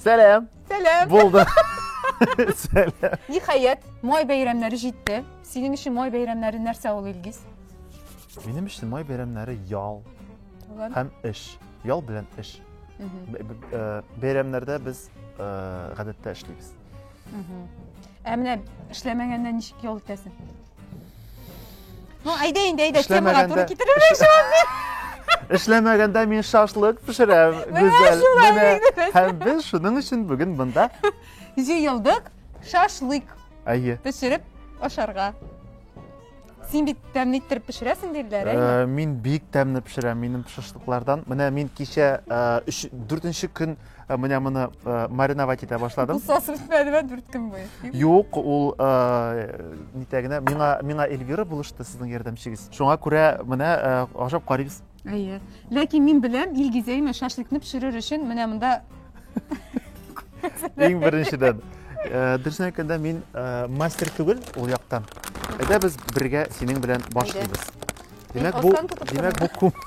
Сәлам. Сәлам. Булды. Сәлам. Ниһаять, май бәйрәмнәре җитте. Синең өчен май бәйрәмнәре нәрсә ул, Илгиз? Минем өчен май бәйрәмнәре ял һәм эш. Ял белән эш. Э, бәйрәмнәрдә без э, гадәттә эшлибез. Ә менә эшләмәгәндә ничек ял итәсең? Ну, әйдә инде, әйдә, темага туры китереп Эшләмәгәндә мин шашлык пешерәм, Гүзәл. Менә һәм без шуның өчен бүген монда җыелдык шашлык. Әйе. Пешереп ашарга. Син бит тәмле иттереп пешерәсең диләр, әйе? Э, мин бик тәмле пешерәм, минем шашлыклардан. Менә мин кичә 4 э, көн Э, менә моны э, мариновать итә башладым кусасы бетмәде ма дүрт көн буе юк ул э, нитә генә миңа миңа эльвира булышты сезнең ярдәмчегез шуңа күрә менә ашап карыйбыз әйе ләкин мин беләм илгизәймә шашлыкны пешерер өчен менә монда иң беренчедән дөресен әйткәндә мин мастер түгел ул яктан әйдә без бергә синең белән башлыйбыз димәк бу димәк бу күп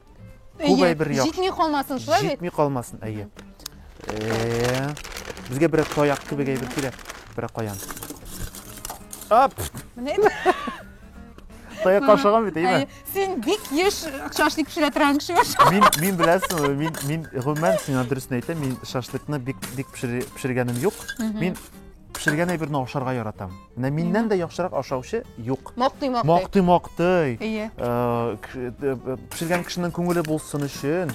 Күп әйбер яхшы. Җитми калмасын, шулай бит? Җитми калмасын, әйе. Э, безгә берәр таяк кебек әйбер кирәк. Берәр каян. Ап! Менә Таяк ашаган бит, әйме? Син бик еш шашлык пешерә торган кеше баша. Мин мин беләсең, мин мин гомумән сиңа дөресен әйтәм, мин шашлыкны бик бик пешергәнем юк. Мин Пешергән әйберне ашарга яратам. Менә миннән дә яхшырак ашаучы юк. Мактый, мактый. Мактый, мактый. Ие. Э, э, пешергән кешенең күңеле булсын өчен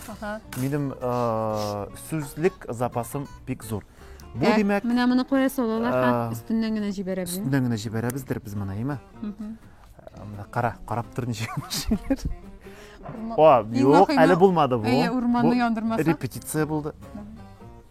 минем э, сүзлек запасым бик зур. Бу димәк, менә моны куя салалар һәм өстеннән генә җибәрәбез. Өстеннән генә җибәрәбездер без моны, әйме? Менә кара, карап тор ничек эшлиләр. О, юк, әле булмады бу. Әйе, урманны яндырмаса. Репетиция булды.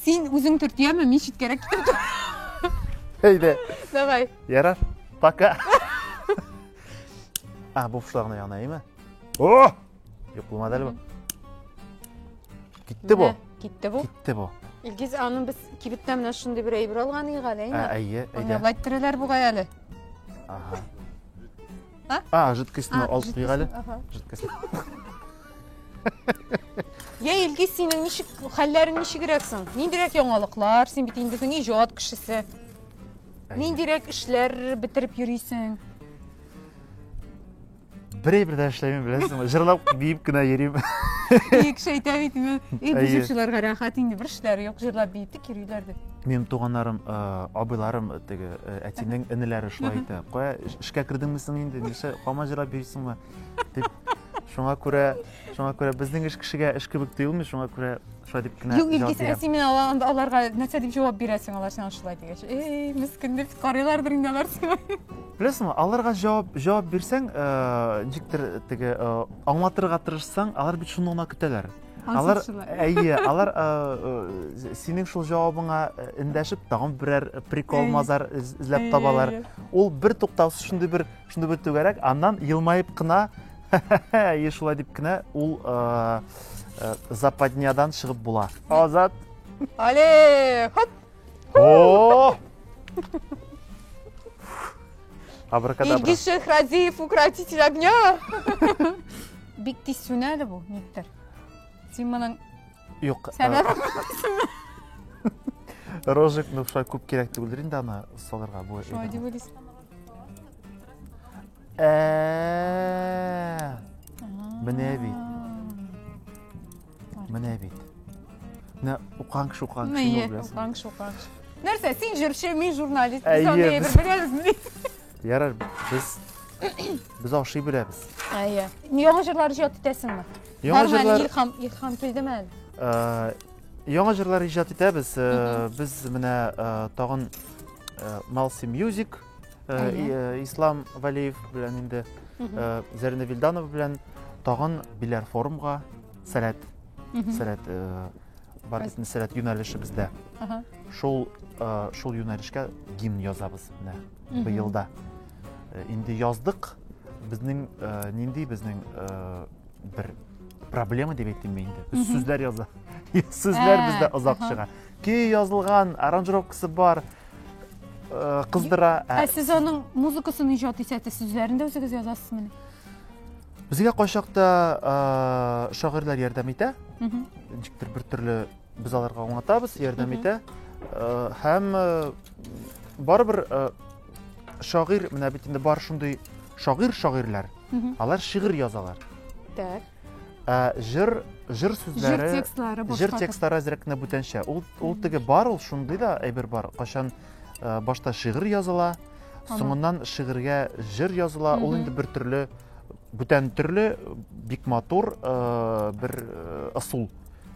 Син үзең төртияме, мин читкәрәк китеп тор. Әйдә. Давай. Ярар. Пока. А, бу фушлагына яна, әйме? О! Юк булмады әле бу. Китте бу. Китте бу. Китте бу. Илгиз, аны без кибеттән менә шундый бер әйбер алган иек әле, әйме? Әйе, әйдә. Аны лайттыралар бугай әле. Ага. А? А, жидкостьне А, алып куйга әле. ага. Жидкость. Я Илгиз, синең ничек хәлләрең ничегрәк соң? Ниндирәк яңалыклар? Син бит инде безнең иҗат кешесе. Ниндирәк эшләр бетереп йөрисең? Берәй бер дә эшләмим, беләсеңме? Җырлап, биеп кенә йөрим. Бик шәйтә бит. Ил Әйе. бит инде бер эшләр юк, җырлап биеп. Кириләр дип. Минем туганнарым, э, абыйларым, э, теге э, әтинең энеләре шулай әйтә. Кая эшкә кердеңме соң инде? Нишлә кама җырап йөрисеңме? дип. Шуңа күрә, шуңа күрә безнең эш кешегә эш кебек тоелмый, шуңа күрә шулай дип кенә Юк, җавап бирәм. син мин аларга нәрсә дип җавап бирәсең, алар сиңа шулай дигәч. Эй, мискин дип карыйлардыр инде алар сиңа. Беләсеңме, аларга җавап җавап бирсәң, ничектер теге аңлатырга тырышсаң, алар бит шуны гына көтәләр. Алар, әйе, алар синең шул җавабыңа эндәшеп, тагын берәр прикол мазар эзләп табалар. Ул бер туктаусыз шундый бер, шундый бер түгәрәк, аннан елмаеп кына, әйе, шулай дип кенә ул западнядан чыгып була. Азат. Але, хоп! О! Абракадабра. Илгиз Шехразиев, укротитель огня. Бик тиз сүнә әле бу, никтер. Син моның Юк. Сәбәбе Рожек, ну шулай күп кирәк түгелдер инде аны салырга бу. Шулай дип уйлыйсың. Менә бит. Менә бит. Менә укыган кеше укыган кеше Мие, беләсең. укыган кеше укыган кеше. Нәрсә, син җырчы, мин журналист. Без аны Әйе, без- беләбезме? Ярар, без без ашый беләбез. Әйе. Яңа җырлар иҗат итәсеңме? Яңа Бармы әле җырлар Илһам, Илһам килдеме әле? Э, яңа җырлар иҗат итәбез. Э, Без менә э, тагын э, Малси Music Ислам Валиев белән инде Зәринә Вилданова белән тагын биләр форумга сәләт сәләт бар бит сәләт юнәлешебездә. Шул шул юнәлешкә гимн язабыз менә быелда. Инде яздык. Безнең нинди безнең бер проблема дип әйтим мин инде. Без сүзләр яза. Сүзләр бездә озак чыга. Көй язылган, аранжировкасы бар, э, кыздыра. Ә э, сез аның музыкасын иҗат итәсез, сүзләрен дә үзегез язасызмы? Безгә кайчакта э, шагыйрьләр ярдәм итә. Ничектер бер төрле без аларга аңлатабыз, ярдәм итә. Һәм барыбер шагыйрь, менә бит инде бар шундый шагыйрь-шагыйрьләр. Алар шигырь язалар. Так. Ә җыр җыр сүзләре җыр текстлары башка җыр текстлары әзрәк кенә бүтәнчә ул ул теге бар ул шундый да әйбер бар кайчан э, башта шигырь языла соңыннан шигырьгә җыр языла ул инде бер төрле бүтән төрле бик матур э, бер э, ысул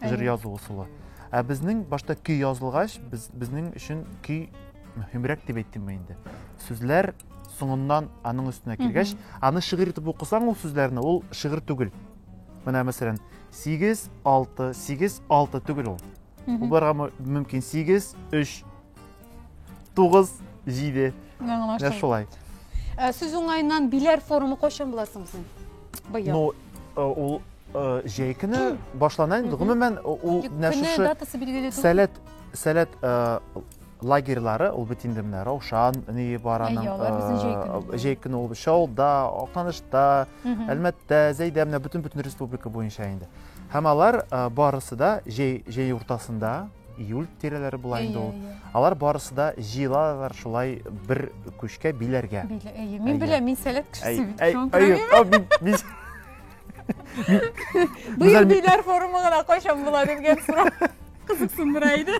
җыр язу ысулы ә безнең башта көй язылгач без, безнең өчен көй мөһимрәк дип әйттем мин инде сүзләр соңыннан аның өстенә килгәч аны шигырь итеп укысаң ул сүзләрне ул шигырь түгел менә мәсәлән сигез алты сигез алты түгел ул ул барырга мөмкин сигез өч тугыз җиде менә шулай ә, сүз уңаеннан биләр форумы кайчан була соң син быел ну э, ул э, җәй көне башлана инде гомумән ул менә шушы сәләт сәләт э, лагерьлары, ул бит инде менә Раушан ние бар аның. Әйе, алар безнең җәй көне. Җәй көне ул Чалда, Акнанышта, Әлмәттә, Зәйдә менә бөтен бөтен республика буенча инде. Һәм алар барысы да җәй җәй уртасында июль тирәләре була инде ул. Алар барысы да җыелалар шулай бер күчкә биләргә. Әйе, мин беләм, мин сәләт кешесе бит. Әйе, Быел биләр форумы гына кайчан була дигән сорау кызыксындыра иде.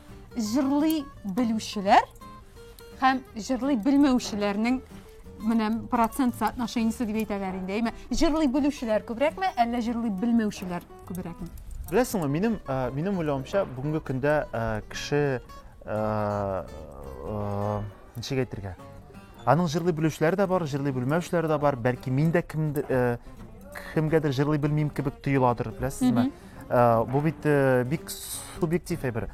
Җырлый белүчеләр һәм җырлый белмәүчеләрнең менә процент соотношениесе дип әйтәләр инде. Әйме, җырлый белүчеләр күбрәкме, әллә җырлый белмәүчеләр күбрәкме? Беләсеңме, минем минем уйлавымча, бүгенге көндә кеше ничек әйтергә? Аның җырлый белүчеләре дә бар, җырлый белмәүчеләре дә бар. Бәлки мин дә кемдер кемгәдер җырлый белмим кебек тоеладыр, беләсезме? Э, бу бит э, бик субъектив әйбер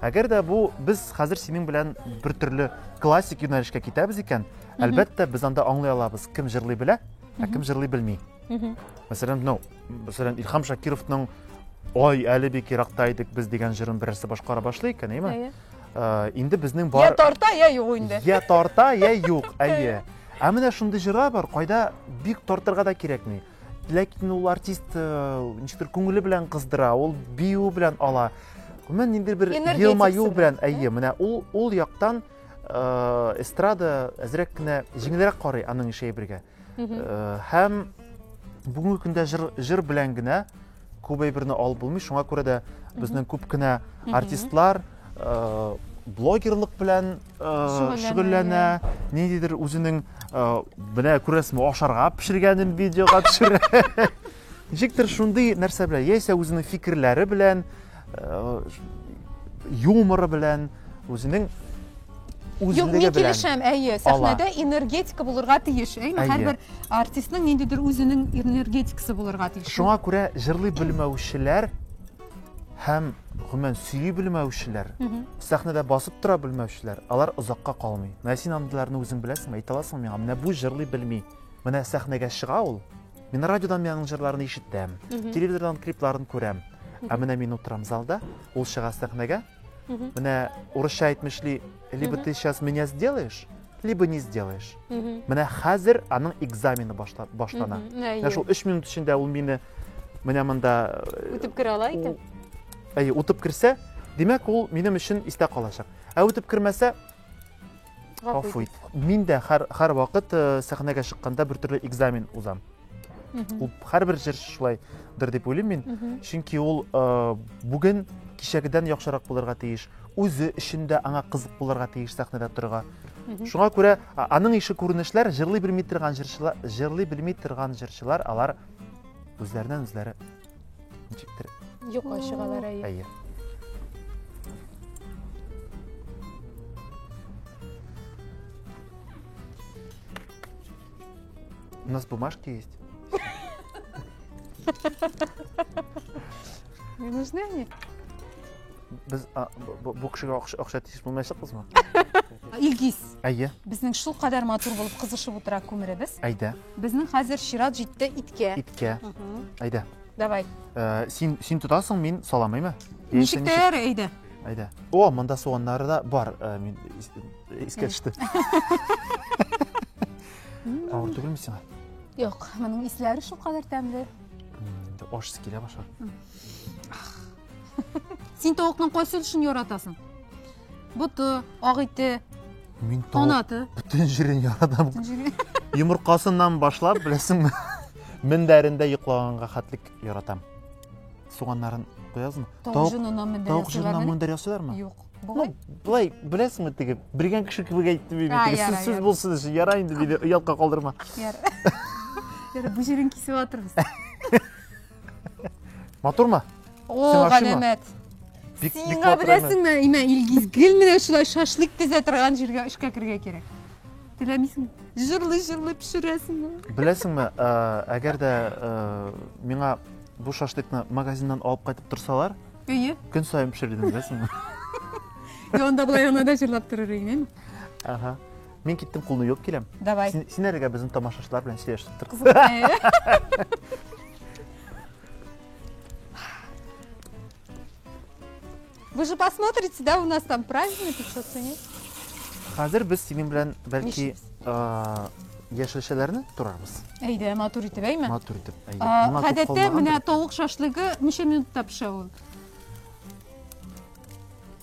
әгәр дә бу без хәзер синең белән бер төрле классик юнәлешкә китәбез икән әлбәттә без анда аңлый алабыз кем җырлый белә ә кем җырлый белми мәсәлән ну мәсәлән илһам шакировның ой әле бик еракта идек без дигән җырын берәрсе башкара башлый икән әйме э, инде безнең бар я тарта я юк инде я тарта я юк әйе ә менә шундый җырлар бар кайда бик тартырга да кирәкми ләкин ул артист э, ничектер күңеле белән кыздыра ул бию белән ала гомумән ниндидер бер елмаю белән әйе менә ул ул яктан э, эстрада әзрәк кенә җиңелрәк карый аның эше әйбергә э, һәм бүгенге көндә җыр, җыр белән генә Күп әйберне алып булмый, шуңа күрә дә безнең күп кенә артистлар э, блогерлык белән э, шөгыльләнә, ниндидер үзенең э, менә күрәсезме, ашарга пешергәнен видеога төшерә. Ничектер шундый нәрсә белән, яисә үзенең фикерләре белән, юморы белән үзенең Юк, мин килешәм, әйе, сәхнәдә энергетика булырга тиеш, әйме, һәрбер артистның ниндидер үзенең энергетикасы булырга тиеш. Шуңа күрә җырлый белмәүчеләр һәм гомумән сөйли белмәүчеләр, сәхнәдә басып тора белмәүчеләр, алар озакка калмый. Менә син андыйларны үзең беләсеңме, әйтә аласыңмы миңа? Менә бу җырлый белми. Менә сәхнәгә чыга ул, Мин радиодан миңның җырларын ишетәм, телевизордан клипларын күрәм. Ә менә мин утырам залда, ул чыга сәхнәгә. Менә урысча әйтмешли, либо ты сейчас меня сделаешь, либо не сделаешь. Менә хәзер аның экзамены башла, башлана. Менә шул 3 минут эчендә ул мине менә монда э, үтеп керә ала икән. Әйе, үтеп керсә, димәк ул минем өчен истә калачак. Ә үтеп кермәсә, Гафу ит. Мин дә һәр һәр вакыт э, сәхнәгә чыкканда бер төрле экзамен узам. Ул һәрбер җырчы шулайдыр дип уйлыйм мин. Чөнки ул э, бүген кичәгедән яхшырак булырга тиеш. Үзе өчен дә аңа кызык булырга тиеш сәхнәдә торырга. Шуңа күрә а- аның ише күренешләр җырлый белми торган җырчылар, җырлый белми торган җырчылар алар үзләреннән үзләре Ничектер? Юка чыгалар әйе. Әйе. У нас бумажки есть. Не нужны они? Без а, бу кешегә акча тиеш булмаячакбызмы? Илгиз. Әйе. Безнең шул кадәр матур булып кызышып утыра күмеребез. Әйдә. Безнең хәзер чират җитте иткә. Иткә. Әйдә. Давай. Э, син син тотасың, мин саламыймы? Ничек тә ярый, әйдә. Әйдә. О, монда суганнары да бар. Э, мин искә төште. Авыр түгелме сиңа? Юк, моның исләре шул кадәр тәмле. Аш килә башлар. Син тавыкның кайсы өлешен яратасың? Боты, ак ите, Мин тавык канаты. бөтен җирен яратам. Йомыркасыннан башлап, беләсеңме? Мендәрендә йоклаганга хәтлек яратам. Суганнарын куязмы? Тавык җонына мендәр Тавык җонына ясыйлармы? мендәр ясыйлармы? Юк. Ну, Болай. былай, беләсеңме теге, белгән кеше кебек әйтте бит. А, теге, яра, Сүз сүз яра. булсын өчен, яра инде, диде, оялка калдырма. Яр. Яр, бу җирен кисеп атырбыз. Матурмы? О, галәмәт. Сиңа беләсеңме, имә Илгиз, гел менә шулай шашлык песә торган җиргә эшкә керергә кирәк. Теләмисең? Җырлый-җырлый пешерәсеңме? Беләсеңме, э, әгәр дә э, миңа бу шашлыкны магазиннан алып кайтып торсалар, Әйе. Көн саен пешердем, беләсеңме? Янда болай янада җырлап торыр идең, әйме? Ага. Мин киттем, кулны юып киләм. Давай. Син, син әлегә безнең тамашачылар белән сөйләшеп тор. Вы же посмотрите, да, у нас там праздники, что то нет? Хәзер без синең белән бәлки яшелчәләрне турарбыз. Әйдә, матур итеп, әйме? Матур итеп, әйдә. Гадәттә менә тавык шашлыгы ничә минутта пешә ул?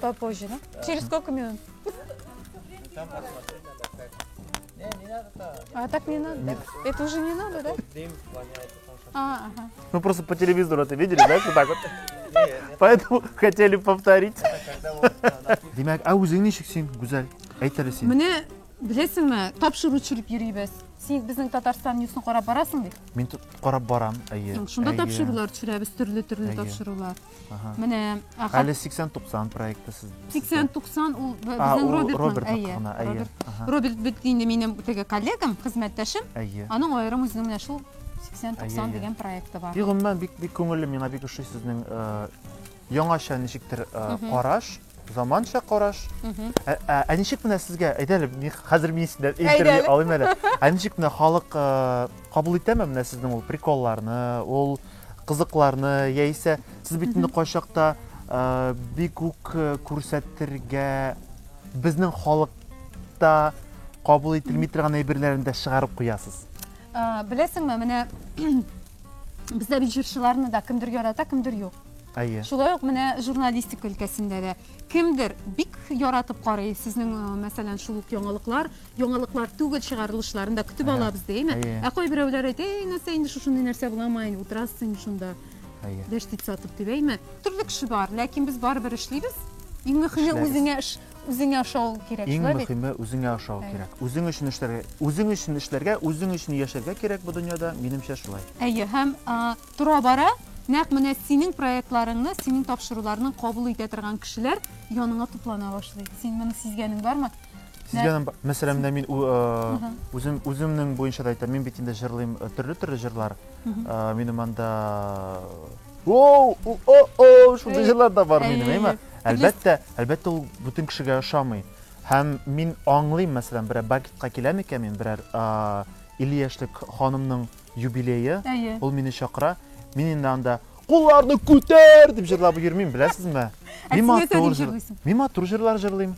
Попозже, да? Через сколько минут? А так не надо? Нет. Это уже не надо, да? А, ага. Ну просто по телевизору это видели, да, вот так вот? Поэтому хотели повторить. Демек, а үзең ничек син, Гүзәл? Әйт әле син. Менә беләсеңме, тапшыру төшереп йөрибез. Син безнең Татарстан ньюсын карап барасың бит? Мин карап барам, әйе. Шунда тапшырулар төшерәбез, төрле-төрле тапшырулар. Менә Әле 80-90 проекты сез. 80-90 ул безнең Роберт әйе. Роберт бит инде минем теге коллегам, хезмәттәшем. Аның аерым үзенең менә шул 80-90 дигән проекты бар. Бик гомумән бик бик күңелле миңа бик ошый сезнең яңача ничектер караш. Заманча караш. Ә, ә, ә ничек менә сезгә, әйдә әле, мин хәзер мин сездән Әйдә интервью әле. алыйм әле. Ә ничек менә халык э, кабул итәме менә сезнең ул приколларны, ул кызыкларны, яисә сез бит инде кайчакта э, бик үк э, күрсәтергә безнең халыкта кабул ителми торган әйберләрне дә чыгарып куясыз. Ә, беләсеңме, менә бездә бит җырчыларны да кемдер ярата, кемдер юк. Әйе. Шулай ук менә журналистика өлкәсендә дә кемдер бик яратып карый сезнең, э, мәсәлән, шул ук яңалыклар, яңалыклар түгел чыгарылышларын да көтеп алабыз ди, әйме? Ә кайберәүләр әйтә, әй, нәрсә инде шушындый нәрсә буламы, әй, утырасыз инде шунда. Әйе. Дәштит сатып дип, әйме? Төрле кеше бар, ләкин без барыбер эшлибез. Иң мөхиме үзеңә эш, үзеңә ошау кирәк, Иң шулай бит? мөхиме үзеңә ошау кирәк. Үзең өчен эшләргә, үзең өчен эшләргә, үзең өчен яшәргә кирәк бу дөньяда, минемчә шулай. Әйе, һәм, а, Тора-бара, нәкъ менә синең проектларыңны, синең тапшыруларны кабул итә торган кешеләр яныңа туплана башлый. Син моны сизгәнең бармы? Сизгәнем бар. Мәсәлән, менә мин үзем үземнең буенча да әйтәм, мин бит инде җырлыйм төрле-төрле җырлар. Минем анда Оу, о-о, шундый җырлар да бар минем, әйме? Әлбәттә, әлбәттә ул бөтен кешегә ошамый. Һәм мин аңлыйм, мәсәлән, берәр бакетка киләм икән мин, берәр 50 яшьлек ханымның Юбилее, Әйе. ул мине чакыра. Мин инде анда кулларны күтәр дип җырлап йөрмим, беләсезме? Ә Мин син нәрсә матур дип җыр- җырлыйсың? Мин матур җырлар җырлыйм.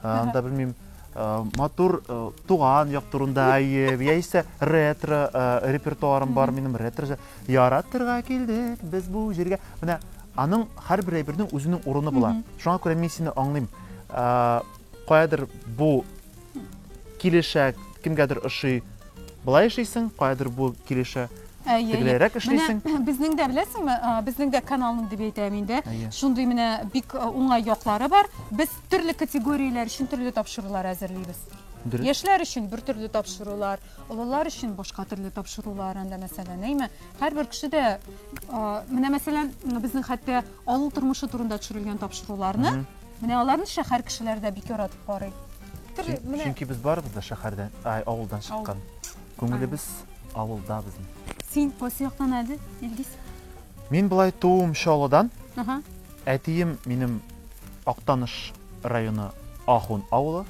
А, Анда белмим, а, матур а, туган як турында, әйе, яисә ретро а, репертуарым бар минем ретро. җыр. Яратырга килдек без бу җиргә. Менә аның һәрбер әйбернең үзенең урыны була. Шуңа күрә мин сине аңлыйм. А, каядыр бу килешә, кемгәдер ошый, былай эшлисең, каядыр бу килешә. Тегелерәк эшлисең. Менә безнең дә беләсеңме, безнең дә каналның дип әйтәм инде. Шундый менә бик уңай яклары бар. Без төрле категорияләр өчен төрле тапшырулар әзерлибез. Яшьләр өчен бер төрле тапшырулар, олылар өчен башка төрле тапшырулар анда мәсәлән, әйме? Һәрбер кеше дә менә мәсәлән, безнең хәтта авыл тормышы турында төшерелгән тапшыруларны Менә аларны шәһәр кешеләре дә бик яратып карый. Төрле, менә. Чөнки без барыбыз да шәһәрдән, ай, авылдан чыккан. Күңелебез авылда безнең. Син кайсы яктан әле, Илгиз? Мин болай тууым Чаллыдан. Әтием минем Актаныш районы Ахун авылы.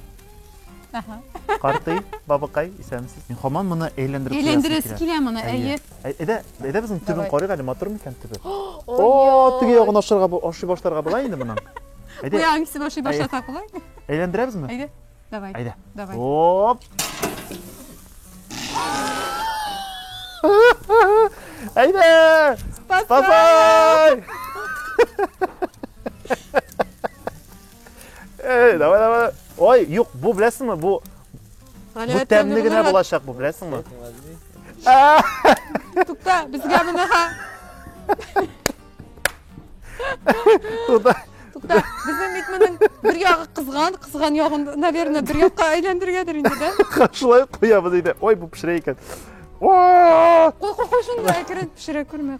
Картый, бабыкай, исәнмесез. Мин хаман моны әйләндереп куясым Әйләндерәсе килә моны, әйе. Әйдә, әйдә безнең төбен карыйк әле, матур микән төбе? О, теге ягын ашырга, ашый башларга була инде моның. Әйдә. Бу ягын кисеп ашый башласак була. Әйләндерәбезме? Әйдә. Давай. Әйдә. Давай. Оп. Әйдә! Бабай! Эй, давай, давай. Ой, юк, бу беләсеңме? Бу бу тәмле генә булачак бу, беләсеңме? Тукта, безгә моны ха. Тукта. Тукта, безнең бит моның бер ягы кызган, кызган ягын, наверное, бер якка әйләндергәдер инде, да? Шулай куябыз инде. Ой, бу пешерә икән. Кой, кой, кой, шунда әкрен пешерә күрмәк.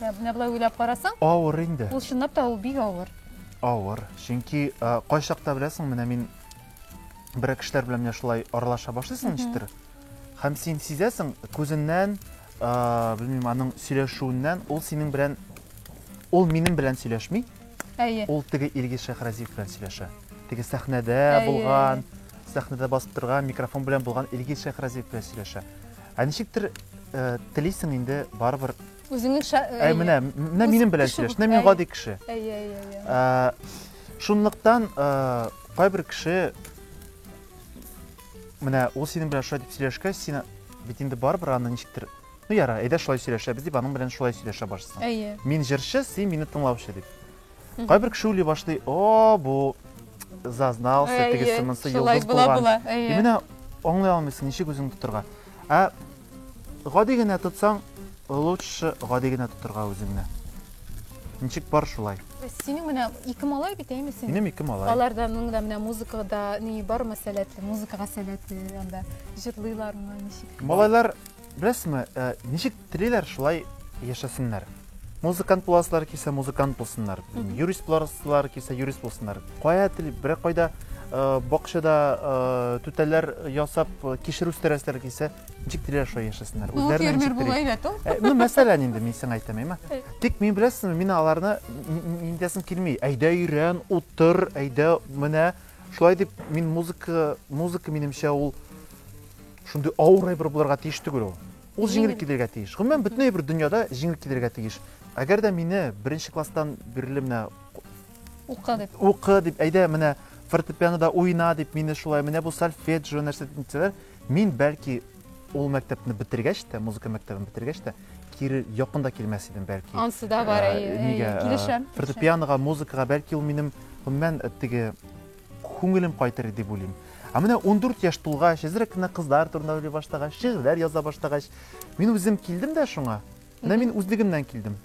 Ә менә болай уйлап карасаң, Авыр инде. ул чынлап та ул бик авыр. Авыр. Чөнки ә, кайчакта беләсең, менә мин берәр кешеләр белән менә шулай аралаша башлыйсың ничектер. Һәм син сизәсең, күзеннән, ә, белмим, аның сөйләшүеннән ул синең белән ул минем белән сөйләшми, Әйе. ул теге Илгиз Шәхразиев белән сөйләшә. Теге сәхнәдә Әйе. булган, сәхнәдә басып торган, микрофон белән булган Илгиз Шәхразиев белән сөйләшә. Ә ничектер телисең инде барыбер Үзеңнең ша... Ә, менә, менә минем белән сөйләш, менә мин гади кеше. Әйе, әйе, әйе. Шунлыктан кайбер кеше менә ул синең белән шулай дип сөйләшкәч, син бит инде барыбер аны ничектер ну яра, әйдә шулай сөйләшәбез дип, аның белән шулай сөйләшә башлыйсың. Әйе. Мин җырчы, син мине тыңлаучы дип. Кайбер кеше уйлый башлый, о, бу зазнался, тегесе монсы йолдыз булган. И менә аңлый алмыйсың, ничек үзең тотырга. Ә гади генә тотсаң, лучше гади генә тотырга үзеңне. Ничек бар шулай. Синең менә ике малай бит, әйме синең? Минем ике малай. Аларда моның да менә музыкада ни бар мәсәләте, музыкага сәләте анда җырлыйлармы, ничек? Малайлар Беләсезме, ничек телиләр, шулай яшәсеннәр. Музыкант буласызлар килсә, музыкант булсыннар. Юрист буласызлар килсә, юрист булсыннар. Кая тел, бер кайда бакчада түтәлләр ясап, кишер үстерәсезләр килсә, ничек телиләр, шулай яшәсеннәр. Ну, фермер булай да тол. Ну, мәсәлән инде, мин сиңа әйтәм, әйме. Тик мин беләсезме, мин аларны мин диясем килми. Әйдә өйрән, утыр, әйдә, менә. Шулай дип, мин музыка, музыка минемчә ул Шундый авыр әйбер булырга тиеш түгел ул. Ул җиңел килергә тиеш. Гомумән, бөтен әйбер дөньяда җиңел килергә тиеш. Әгәр дә мине беренче класстан бирле менә укы дип, укы дип, әйдә менә фортепианода уйна дип, мине шулай менә бу сольфеджио нәрсә дисәләр, мин бәлки ул мәктәпне бетергәч тә, музыка мәктәбен бетергәч тә, кире якын да килмәс идем бәлки. Ансы да бар, ә, әйе, килешәм. Фортепианога, музыкага бәлки ул минем гомумән теге Күңелем кайтыр дип уйлыйм. Ә менә ундүрт яшь тулгач, әзрәк кенә кызлар турында уйлый башлагач, шигырьләр яза башлагач, мин үзем килдем дә шуңа. Менә мин үзлегемнән килдем.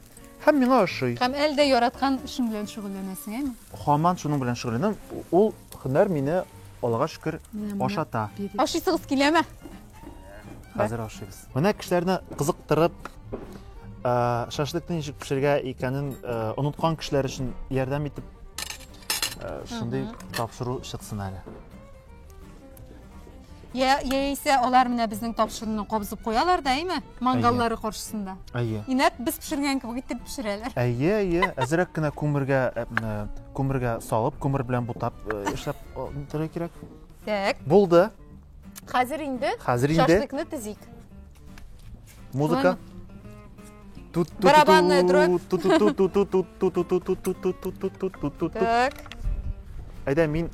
Һәм миңа ошый. Һәм әле дә яраткан эшең белән шөгыльләнәсең, әйме? Һаман шуның белән шөгыльләнәм. Ул һөнәр мине, Аллага шөкер, ашата. Ашыйсыгыз киләме? Хәзер ашыйбыз. Менә кешеләрне кызыктырып, шашлыкны ничек пешерергә икәнен оныткан кешеләр өчен ярдәм итеп шундый тапшыру чыксын әле яисә алар менә безнең тапшыруны кабызып куялар да әйме мангаллары каршысында әйе инәк без пешергән кебек итеп пешерәләр әйе әйе әзерәк кенә күмергә күмергә салып күмер белән бутап эшләп торырга кирәк так булды хәзер инде хәзер инде шашлыкны тезик Музыка. Барабанная дробь. Так. Әйдә, мин...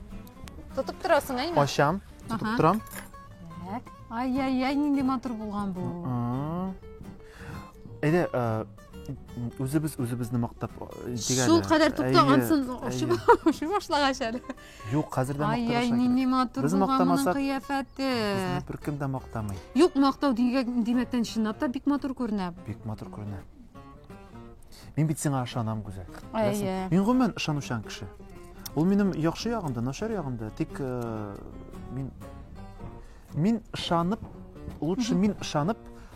Тотып торасың, әйме? Ашам, тотып торам. Так. Ай-яй-яй, нинди матур булган бу. Әйдә, үзебез үзебезне мактап дигәле. Шул кадәр туктагансыз, ошып башлагач әле. Юк, хәзер дә мактарга Ай-яй, нинди матур Без булган моның мактамасак- кыяфәте. Безне беркем дә мактамый. Юк, мактау дигән- димәктән чынлап та бик матур күренә. Бик матур күренә. Мин бит сиңа ышанам, Гүзәл. Беләсең. Әйе. Мин гомумән ышанучан кеше. Ул минем яхшы ягымда, начар ягымда. Тик э, мин мин ышанып, лучше мин ышанып,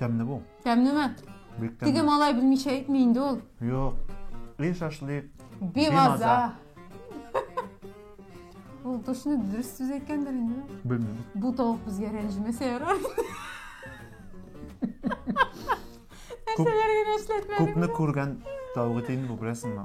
Тәмле бу. Тәмлеме? Бик тәмле. Теге малай белмичә әйтми инде ул. Юк. И шашлык. Бимаза. Ул точно дөрес сүз әйткәндер инде. Белмим. Бу тавык безгә рәнҗемәсә ярар. Нәрсәләр генә эшләтмәдең. Күпне күргән тавык итен бу беләсеңме?